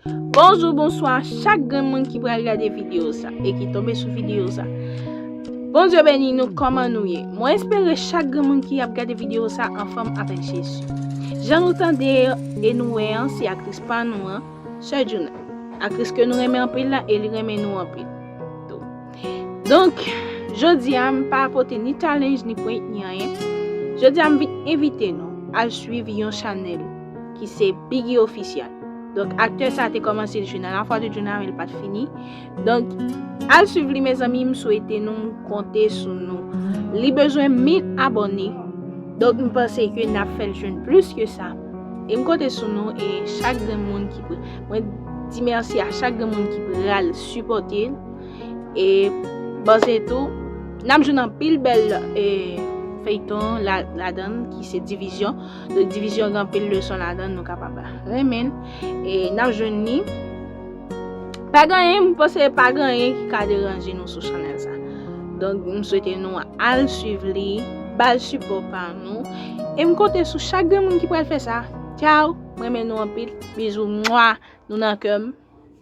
Bonjou bonswa chak grenn moun ki pral gade video sa e ki tonbe sou video sa Bondye beni nou kòman nou ye mwen espere chak grenn moun ki ap gade video sa anfòm avèk Jezi jan nou tande e nou wè an se aktris pa nou an Sè Djouna aktris ke nou renmen anpil la e li renmen nou anpil tou donk jodi a m pa pote ni challenge ni prank ni anyen jodi a m vin envite nou al swiv yon chanèl ki se Biggy Official. Donk aktè sa te komanse jwe nan la foi de Djouna men li pat fini. Donk al suiv li mezanmi m swete nou konte sou nou. Li bezwen 1000 abone. Donk m panse ke n ap fèl jwenn plis ke sa. E m konte sou nou e chak grenn moun ki pou mwen di mèsi a chak grenn moun ki pral sipote l. E panse tou n ap jwenn anpil bèl feyton ladann ki se division. Don divizyon gen anpil leson ladan nou kapab renmen e nap jwenn ni. Pa genyen m panse pa genyen ki ka deranje nou sou chanel sa. Don m swete nou al swiv li, bal sipo pa nou e m konte sou chak gen moun ki pral fè sa. Chow m renmen nou anpil bizou mwa nou nan kè m.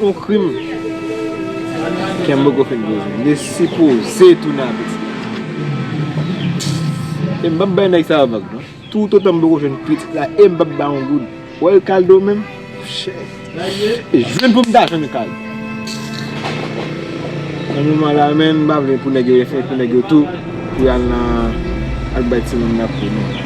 Yon krim kem poko fin poze. M te sipoze tounen ak Esthie. E m pap bay nèg sa yo vag non. Tout otan m poko jwenn pitit la e m pap bay yon goud. Wè Ricardo menm? Shit! E jwenn pou m ta jwenn Ricardo. Nan moman la menm m pa vle pou nèg yo efè pou nèg yo tou pou y al nan al bay timoun nan kou non.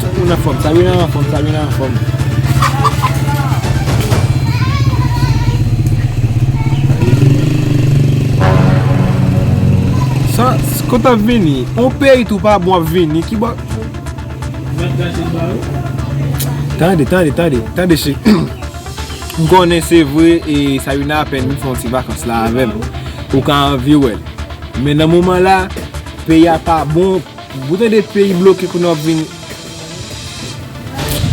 Tout moun anfòm, Sabrina anfòm, Sabrina anfòm. Sa, kote ap vini? On peyi tou pa bon ap vini, ki bò? Tande, tande, tande, tande che. M konnen se vre e Sabrina apèn vin fè yon ti vakans la avèm. Ou ka anvi wèl. Men nan moman la, peyi a pa bon. Ou tande peyi bloke kounye a wap vin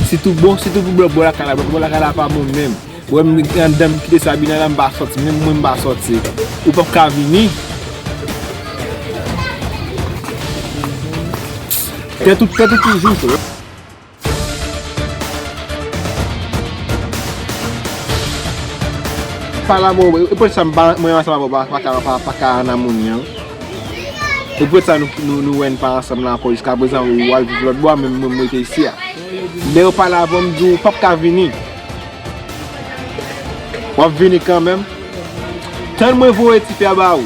Si tou bon si tou pou bò lakay la bò lakay la pa bon menm Ou wèm andan m kite Sabina la m pa sòti menm mwen m pa sòti Ou pap ka vini Tèt ou tèt ou toujou fre. Pala mwen wè, e pwèt sa mwen mwen ansanm avèw pa ka pa pa ka an amouni an E pwèt sa nou nou wè n pa ansanm la ankò jiska prezan ou al viv lòt bò a menm mwen m rete isi a Lè ou pale avèm ou di ou pap ka vini Wap vini kanmèm Tann mwen voye ti fè a ba ou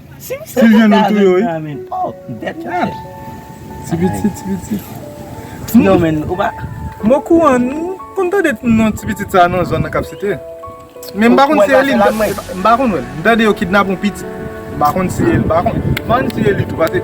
Ti vyann ou touye wi. Ti pitit ti pitit. M o kouran m konn tande non ti pitit sa nan zòn nan kap site. Men m pa konn si e li. M pa konn wè l. M tande yo kidnap yon pitit. M pa konn si e li m pa konn. M pa konn si e li tou pase.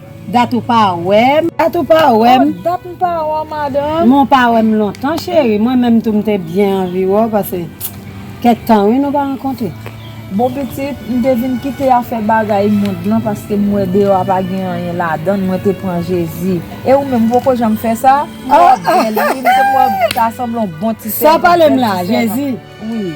Dat ou pa wèm. Dat ou pa wèm. Oh dat m pa wè w madanm. Men w pa wèm lontan cheri. Mwen menm tou m te byen anvi wè w pase kèk tan wi nou pa rankontre. Bon pitit, m te vin kite afè bagay mond lan paske m wè deyò a pa gen anyen ladann, mwen te pran Jezi. E ou menm, ou poko janm fè sa? M wè w ap byen li wi, m te kwè w ta sanble yon bon ti sèvant, bèl ti sèvant. Sa w pale m la, Jezi?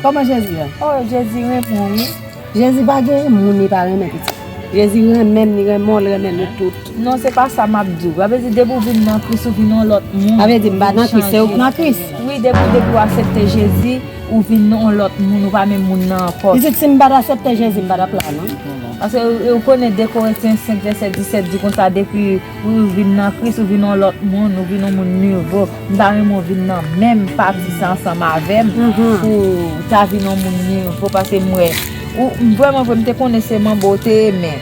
Koman jezi ye? Oh jezi renmen wi. Jezi pa gen moun li pa renmen pitit. Jezi renmen m li renmen w li renmen nou tout. Non se pa sa map diw. Sa vle di depi ou vin nan kris ou vin yon lòt moun. Sa vle di m pa nan kris se ou ki nan kris. Wi depi depi ou asepte jezi ou vin yon lòt moun ou pa menm moun nan ankò. Pitit si m pat asepte jezi m patap la non. Paske ou konnen 2 koretyen 5 vèsè 17 di konsa depi ou vin nan kris ou vin yon lòt moun ou vin yon moun nivo. M ta renmen w vin nan menm pati sa ansanm avè m pou w ta vin yon moun nivo paske m wè ou vrèman vre m te konnen se manbo w te ye men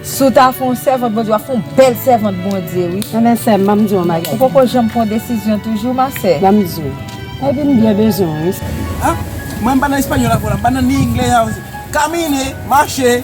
si w ta fè yon sèvant Bondye w ap fè yon bèl sèvant Bondye wi. Ebyen sè m ban m di w yon bagay. Ou poko janm pran desizyon toujou ma sè. Ban m di w. Epi m byen bezwen w wi. An? Mwen m pa nan español avè w la m pa nan ni anglè. Camine, marche!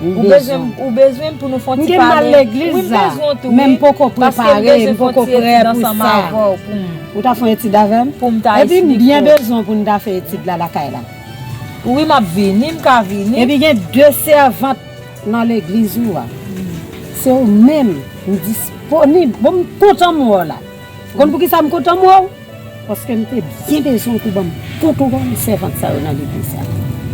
Ou bezwen m. Ou bezwen m pou nou fon ti pale. M gen mal legliz la. Wi m bezwen w tou wi. Men m poko prepare. Paske m bezwen fon ti etid ansanm avè w pou m. Ou ta fon etid avè m? Pou m ta esplike w. Epi m byen bezwen w pou n ta fè etid la lakay la. Wi m ap vini. M ka vini. Epi gen de sèvant nan legliz ou a. Se ou menm. M disponib. Bon m kontan m wè w la. Ou konn poukisa m kontan m wè w? Paske m te byen bezwen w pou banm kontwòl sèvant sa yo nan legliz la.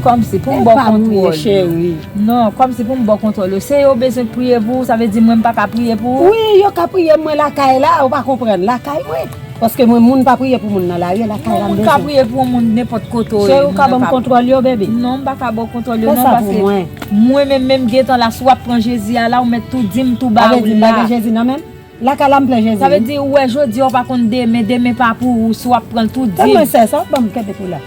Kòmsi pou m baw kontwòl yo? Non, kòmsi pou m baw kontwòl yo? Se yo bezwen k priye pou ou, sa vle di mwen m pa ka priye pou ou? Wi, yo ka priye pou mwen lakay la, ou pa konprann, lakay mwen. Paske mwen moun pa priye pou moun nan lari, lakay la m bezwen. Non, moun ka priye pou yon moun nenpòt kote ou ye. Cheri ou ka banm kontwòl yo baby? Non, m pa ka baw kontwòl yo non paske. Fè sa pou mwen. Mwen menm menm gentan la, si wap pran Jezi a la ou mèt tou dim tou ba ou la. Sa vle di m pa gen Jezi nan menm? Lakay la m plen jezi wi. Sa vle di ou wè jodi a ou pa konn demen, demen pa pou ou si wap pranl tou dim. Tann mwen sè sa wap banm kenbe pou la.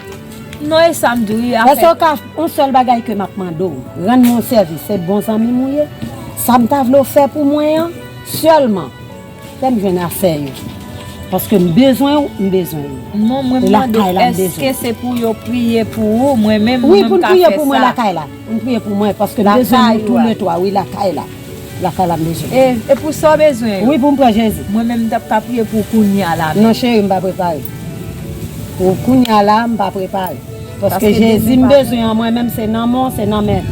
Non e sam di w wi afè. Eske w ka yon sèl bagay ke map mande w rann mwen yon sèvis se bon zanmi m ou ye sam ta vle w fè pou mwen an sèlman fèm jwenn afè yo paske m bezwen w m bezwen yo. Non mwen mande eske se pou yo priye pou ou mwen menm mwen m ka fè sa. Wi pou n priye pou mwen lakay la pou n priye pou mwen paske m bezwen nou tou le 3 wi lakay la. Lakay la m bezwen. E pou sa w bezwen yo? Wi pou m pran Jezi. Mwen menm m tap ka priye pou w kounye a la menm. Non cheri m pa prepare. Pou kounye a la m pa prepare. Paske Jezi m bezwen an mwen menm se nan men w se nan men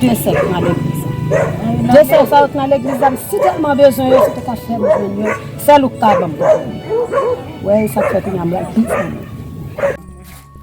de sè k nan legliz la. De sè sa yo k nan legliz la m si tèlman bezwen yo si w te ka fè m jwenn yo sèl ou k ka ban m. Ou wè e sa k fè kounye a m pral priye pou mwen.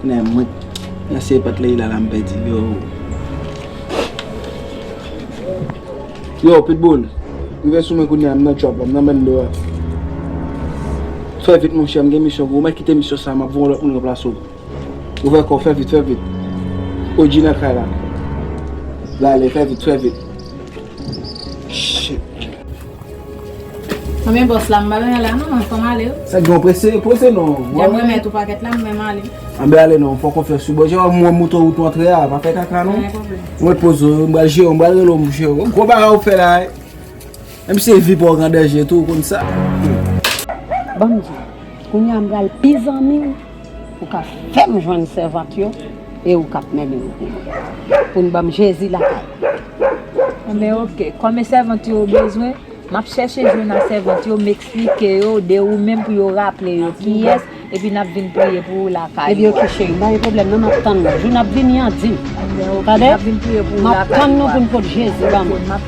Kounya mwen k nan siye pat Leïla la m pèdi yoo. Yoo pitbull rive sou mwen kounya m nan trap la m nan bando a fè vit monchè m gen misyon pou ou mèt kite misyon sa map voye yon lòt moun ranplase w ouvè kòw fè vit fè vit OG nan kay la lale fè vit fè vit shit. Konbyen bòs la m pa renmen la non fòm ale wi. Sa gen w prese poze non. Jan m remèt ou pakèt la m menm ale. Anben ale non fò konfyans wi bò jan w wè moto wout w antre a pa fè kaka non. Mwen poze w wi m pral jere w m pral rele w m jere w. Gwo bagay w fè la wi. Menm si vi pa w k an danje tou w konn sa. Banm di w. Kounya m pral pi zanmi w. Ou ka fèm jwenn sèvant yo e ou kap mennen nou pi lwen. Pou nou banm Jezi lakay la. Anben ok, konbyen sèvant yo ou bezwen? Map chèche jwenn a sèvant yo, m eksplike yo de ou menm pou yo raple yo kiyès epi nap vin priye pou ou lakay ou a. Ebyen ok cheri, m pa gen pwoblèm nan map tann nou. Jou nap vini an dim. Anben ok, nap vin priye pou ou lakay ou a. Tande? Map tann nou pou nou pot Jezi ban mwen.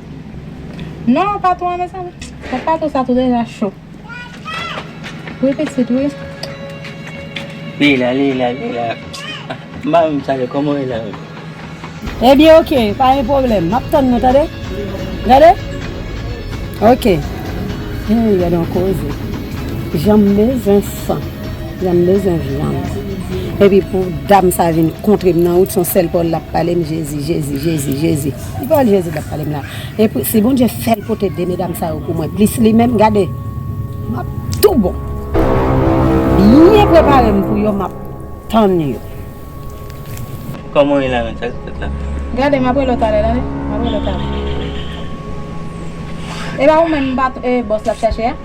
Non patou an mezanmi. Bon patou sa tou deja cho. Wi pitit wi. Leila leila leila. M pa menm save koman w ye la menm. Ebyen ok pa gen pwoblèm. M ap tann nou tande. Gade. Ok. Heyy gade yon koze. Jan m bezwen san. Jan m bezwen vyann. Epi pou dam sa vin kontre m nan wout son sèl pawòl l ap pale m jezi jezi jezi jezi. Ki pawòl Jezi t ap pale m la? E si Bondye fè l pote de medam sa yo pou mwen plis li menm, gade, m ap tou bon. Byen prepare m pou yo, m ap tann yo. Kòman w ye la menm? Sa ki fèt la? Gade, m ap rele w talè, tande, m ap rele w talè. E pa ou menm, e bòs l ap chache a?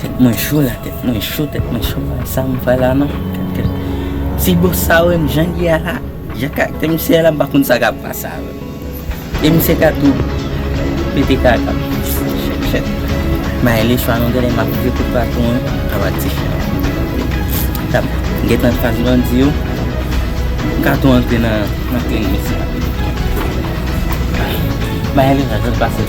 Tèt mwen cho la tèt mwen cho tèt mwen cho la sa m fè la non kèt kèt si bòs sa wè m jan ye a la jan karaktè misye ye la m pa konn sa kap pase avè m e misye ka tou pete kaka m chèt chèt may li chwa non genlè map pran tout baton an anba ti chen an tap gentan fas bandi yo m ka tou antre nan kle misye may li la jan l pase.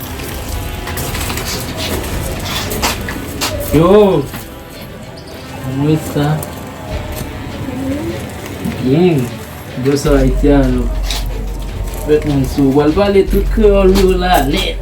Yo! Mwen sa. Bien. Yo sa Haitian yo. Fèt mwen sou. Wal pale tout kreol yo la net.